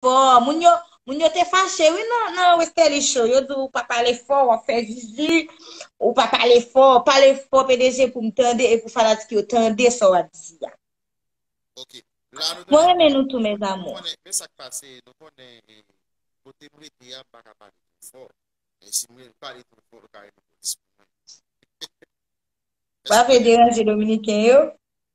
Fò, moun yo, moun yo te fache wi nan nan Westerlie show, yo di w pa pale fò, wap fè zuzu, ou pa pale fò, pale fò PDG pou m tande e pou fanatik yo tande sa wap di a. Ok. La nou Mwen renmen nou tou mes amour. Nou konnen, men sak pase, nou konnen kote m rete a m pa ka pale twò fò, men si m pale twò fò yo ka rele polis pou mwen. Wap vle deranje dominiken yo?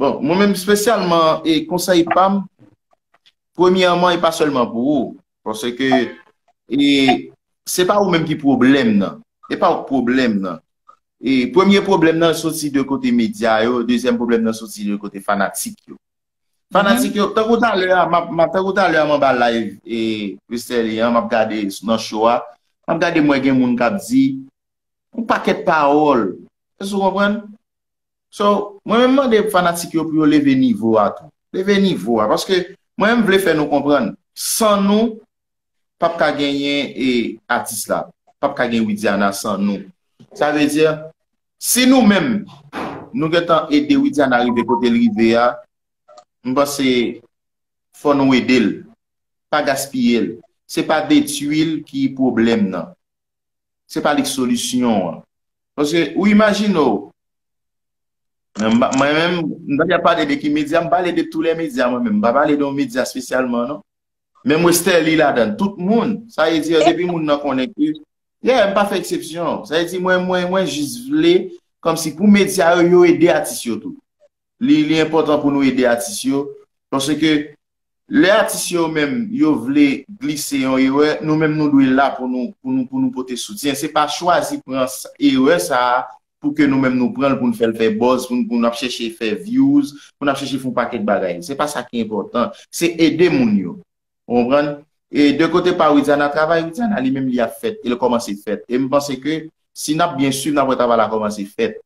Bon, mwen menm spesyalman, e konsèy pam, premyèman e pa sèlman pou ou, pwosè ke, e, se pa ou menm ki pwoblèm nan, e pa ou k pwoblèm nan, e, premye pwoblèm nan soti de kote medya yo, dezyèm pwoblèm nan soti de kote fanatik yo. Fanatik yo, tankou talè a, m ap, tankou talè a m anba live, e, Westerlie an, m ap gade nan show a, m ap gade m wè gen moun k ap di, yon pakèt pawòl, èske ou konprann? So, mwen menm mande fanatik yo pou yo leve nivo a tou. Leve nivo a. Paske, mwen menm vle fè nou konprann, san nou, p ap ka genyen e atis la. P ap ka gen Widiana san nou. Sa vle di, si nou menm, nou gen tan ede Widiana rive kote l rive a, m panse, fò nou ede l. Pa gaspiye l. Se pa detui l ki pwoblèm nan. se pa li k solisyon an. Paske ou imajine w, mwen menm, m pa ka pale de ki medya, m pale de tou lè medya mwen menm, m pa pale de yon medya espesyalman non. Menm Westerlie ladan l, tout moun, sa vle di depi moun nan konnen ke, yeah, m pa fè eksepsyon. Sa vle di mwen, mwen jis vle kòmsi pou medya yo, yo ede atis yo tou. li enpòtan pou nou ede atis yo, paske lè atis yo menm yo vle glise yon erè, nou menm nou dwe la pou nou pote soutyen, se pa chwazi pran erè sa a pou ke nou menm nou pran l pou nou fè l fè buzz, pou nou ap chèche fè views, pou nou ap chèche fè yon pakèt bagay, se pa sa ki enpòtan, se ede moun yo, ou konprann? E de kote pa Widiana, travay Widiana li menm li ap fèt, e l kòmanse fèt, e m panse ke si n ap byen swiv n ap wè travay la kòmanse fèt.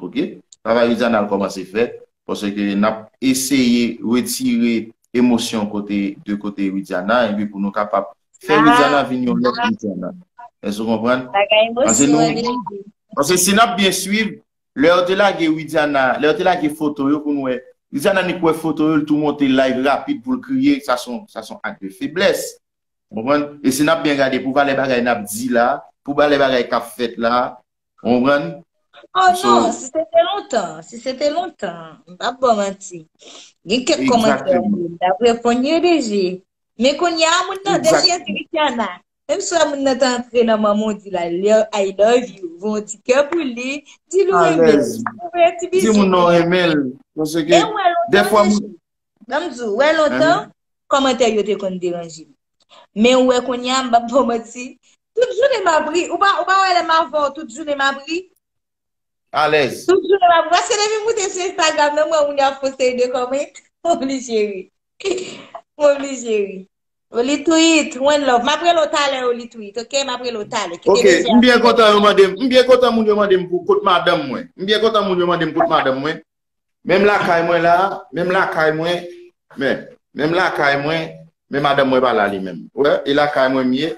ok travay Louisiana al kòmanse fè paske nap eseye retire emosyon kote de kote Louisiana epi pou nou kapab fè Louisiana vin yon lòt Louisiana èske ou konprann? paske si nap byen swiv lè yo te lage Louisiana lè yo te lage foto yo pou nou wè Louisiana ni kwè foto yo li tou monte live rapid poul kriye sa son ak de feblès ou konprann e si nap byen gade pou valè bagay nap di la pou valè bagay kap fèt la Ou konprann? Oh non, si se te lontan, si se te lontan, m pa bon manti. Gen kèk komantè m ta reponn yo deje. Men kounye a moun nan deje di Luciana. Menm si moun nan ta antre nan manman w di l I love you, voye yon ti kè pou li, di l ou renmen l. Alèz. Di moun nan w renmen l. Paske dèfwa moun Banm di ou, wè lontan, kòmantè yo te konn deranje m. Men ou wè kounye a, m pap ba w manti, tout jounen m ap ri. Ou pa wè lè m avè w tout jounen m ap ri? Alèz. Tout jounen m ap ri. Paske depi m moute sou Instagram nan, m wè moun yo ap fon seri de kòmant, m oblije ri. M oblije ri. O Litwit, one love. M ap rele w talè o Litwit, ok? M ap rele w talè. Ok, m byen kontan yo mande m, m byen kontan moun yo mande m pou kot madanm mwen. M byen kontan moun yo mande m kot madanm mwen. Menm lakay mwen la, menm lakay mwen, men, menm lakay mwen, men madanm mwen pa la li menm. Ou wè, e lakay mwen m ye,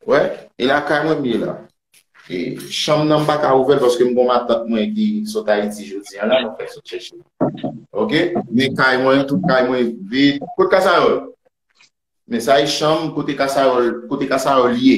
ou wè, e lakay mwen m ye la. E chanm nan m pa ka ouvè l paske m gon matant mwen ki sot Ayiti jodi an la, nou fèk sot chèche l. Ok? Men kay mwen, tout kay mwen vid. Kot Kasayòl? Men sa e chanm kote Kasayòl, kote Kasayòl ye.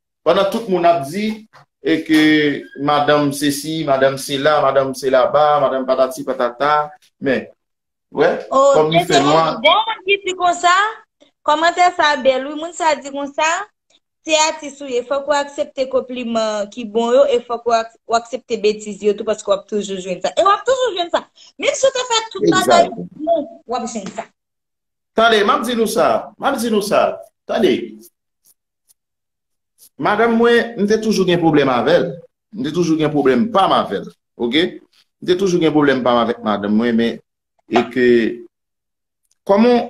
Pandan tout moun ap di e ke madanm sesi, madanm sela, madanm sela ba, madanm patati patata, men, wè, kòm li fè nwa. Oh, gen yon moun ki di konsa, kòmantè sa bèl wi, moun sa di konsa, se atis ou ye, fòk ou aksepte konpliman ki bon yo, e fòk ou aksepte betiz yo tou paske wap toujou jwenn sa. E wap toujou jwenn sa. Menm si ou te fè tout bagay pou moun, wap jwenn sa. Tande, map di nou sa, map di nou sa, tande. Madanm mwen, m te toujou gen pwoblèm avè l. M te toujou gen pwoblèm pa m avè l. Ok? M te toujou gen pwoblèm pa m avèk madanm mwen men e ke Kòman w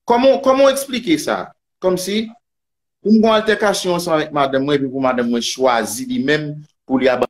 Kòman w Kòman w eksplike sa? Kòm si pou m gen yon altèkasyon ansanm avèk madanm mwen epi pou madanm mwen chwazi li menm pou li abandone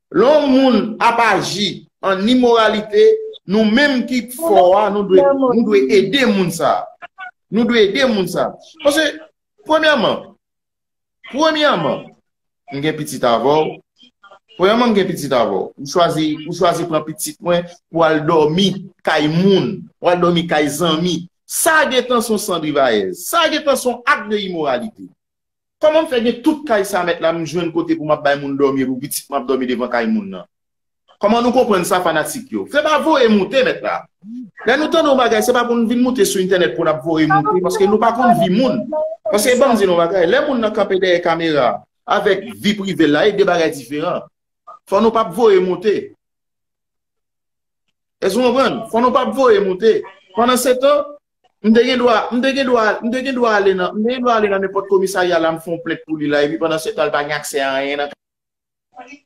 Lè yon moun ap aji an imoralite, nou menm ki fò a, nou dwe ede moun sa a. Nou dwe ede moun sa a. Paske, premyèman, premyèman, m gen pitit avè w, premyèman m gen pitit avè w, ou chwazi, ou chwazi pran pitit mwen pou al dòmi kay moun, pou al dòmi kay zanmi. Sa a gen tan s on sandrivayèz. Sa a gen tan s on ak de imoralite. Kòman m fè gen tout kay sa mèt la m jwenn kote pou m ap bay moun dòmi epi pitit mwen ap dòmi devan kay moun nan? Kòman nou konprann sa fanatik yo? Se pa voye moute mèt la. Lè nou tande yon bagay se pa pou n vin moute sou entènèt pou n ap voye moute paske nou pa konn vi moun. Paske ban m di nou yon bagay, lè moun nan kanpe dèyè kamera avèk vi prive l la e de bagay diferan. Fò nou pa voye moute. Èske nou konprann? Fò nou pa voye moute. Pandan se tan, m te gen dwa, m te gen dwa, m te gen dwa ale nan, m te gen dwa ale nan nenpòt komisarya la m fè yon plent pou li la epi pandan se tan li pa gen aksè a anyen nan kay la.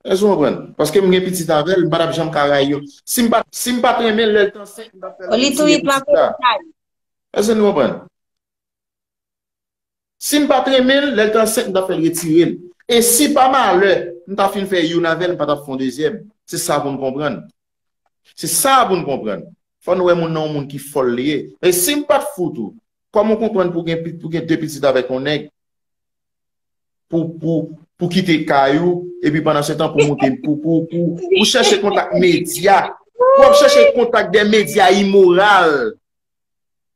Èske ou konprann? Paske m gen pitit avè l, m pa t ap janm ka rayi yo. Si m pa t renmen l lè l te ansent, m t ap fè l retire pitit la. Èske nou konprann? Sim pat renmenl lèl t ansent m tap fèl retirel e si pa malè m ta fin fè youn avèl m pa tap fè yon dezyèm se sa poun konprann se sa poun konprann fò nou wè moun nan yon moun ki fòl li ye men sim pat fout ou kòman w konprann pou gen pou gen 2 pitit avèk yon nèg pou pou pou kite kay ou epi pandan se tan pou moute pou pou pou pou chèche kontak medya pou wap chèche kontak dè medya imoral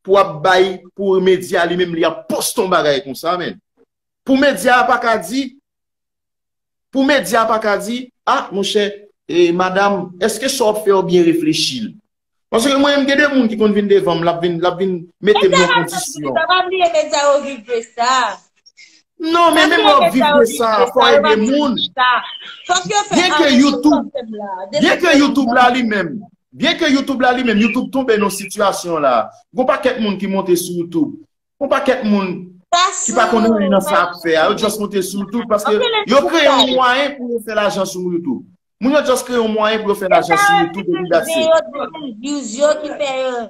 pou ap bay pou media li menm li ap poste yon bagay konsa men. Pou media a pa ka di, pou media a pa ka di, a monchè, e madam, eske sa w ap fè yo byen reflechi l? Paske mwen menm gen de moun ki konn vin devan m, l ap vin, l ap vin mete m nan kondisyon. Media sa pa bliye, media yo viv de sa. Non men menm lè w viv de sa a fò w ede moun. Byen ke Youtube la li menm, byen ke Youtube la li menm, Youtube tonbe nan sitiyasyon la. Gon pakèt moun ki monte sou Youtube. Gon pakèt moun ki pa konnen anyen nan sa ap fè a. Yo just monte sou Youtube paske yo kreye yon mwayen pou yo fè lajan sou Youtube. Moun yo just kreye yon mwayen pou yo fè lajan sou Youtube. E sa yo di se views yo ki fè yo.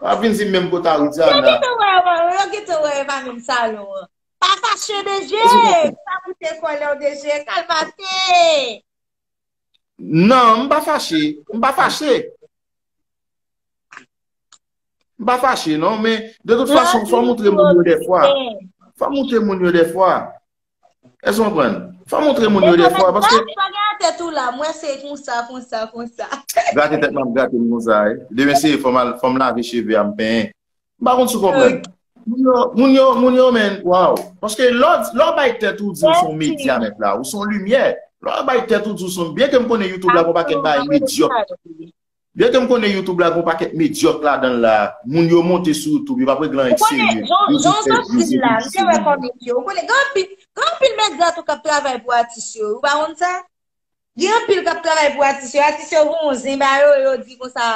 Wap vin di menm kot Aridiana. Yo gete wè e pa menm salon an. Pa fache DG! Sa pou te kole w DG! Kal pase! Nan, m pa fache. M pa fache. M pa fache non, men de tout fason fwa moutre moun yo defwa. Fwa moutre moun yo defwa. Èske ou konprann? Fò montre moun yo defwa paske. Mwen pa gen atèt ou la, mwen se konsa, konsa, konsa. Grate tèt mwen, grate m konsa. Demen se fò m lave cheve a m penyen. M pa konn si ou konprann. Moun yo, moun yo men, waw. Paske lò ou bay tèt ou di ou son medya nèt la, ou son limyè. Lò ou bay tèt ou di ou son, byen ke m konnen YouTube la gon pakèt bagay medyòk. Lè ke m konnen youtube la gen yon pakèt medyòk ladan l la, moun yo monte sou youtube, yo pa prèt gen anyen ki serye, yo jis fè view, yo vin pi serye. Ou konnen, gen anpil, gen anpil medya tou kap travay pou atis yo, ou pa konn sa? Gen anpil kap travay pou atis yo, atis yo gen yon zen ba yo, yo di konsa,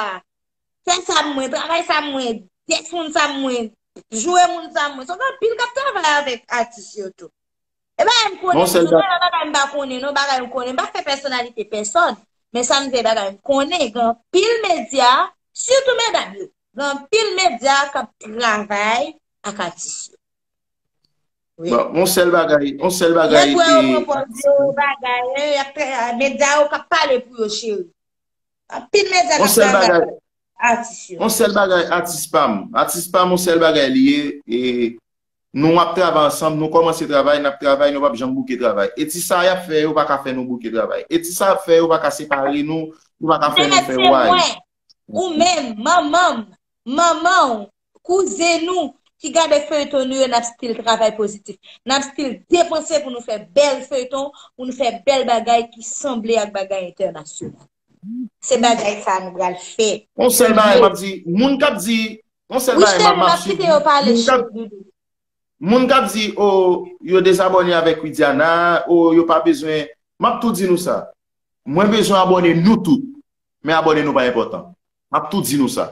fè sa pou mwen, travay sa pou mwen, dèt moun sa pou mwen, joure moun sa pou mwen, so gen anpil kap travay avèk atis yo tou. E bagay m konnen, se pa yon bagay m pa konnen non, bagay m konnen, m pa fè pèsonalite pèsòn, men sa m di se bagay m konnen, gen anpil medya, sitou medam yo, gen anpil medya k ap travay ak atis yo. Bon, yon sèl bagay, yon sèl bagay. Lè pou yo pran pòz yo, bagay, medya yo k ap pale pou yo cheri. Anpil medya k ap travay ak atis yo. Yon sèl bagay, atis pa m, atis pa m yon sèl bagay li ye, e Nou ap travay ansanm, nou kòmanse travay, n ap travay, nou p ap janm bouke travay. E ti sa y ap fè yo pa ka fè nou bouke travay. E ti sa y ap fè yo pa ka separe nou, yo pa ka fè nou fè way. Mèt se mwen, ou menm, manman m, manman w, kouzen nou ki gade feyton nou yo n ap stil travay pozitif. N ap stil depanse pou nou fè bèl feyton, pou nou fè bèl bagay ki sanble ak bagay entènasyonal. Se bagay sa nou pral fè. Yon sèl bagay map di, moun kap di, yon sèl bagay map map si moun kap di, moun kap di o yo dezabòne avèk Widiana, o yo pa bezwen, map tou di nou sa, mwen bezwen abòne nou tout, men abòne nou pa enpòtan, map tou di nou sa.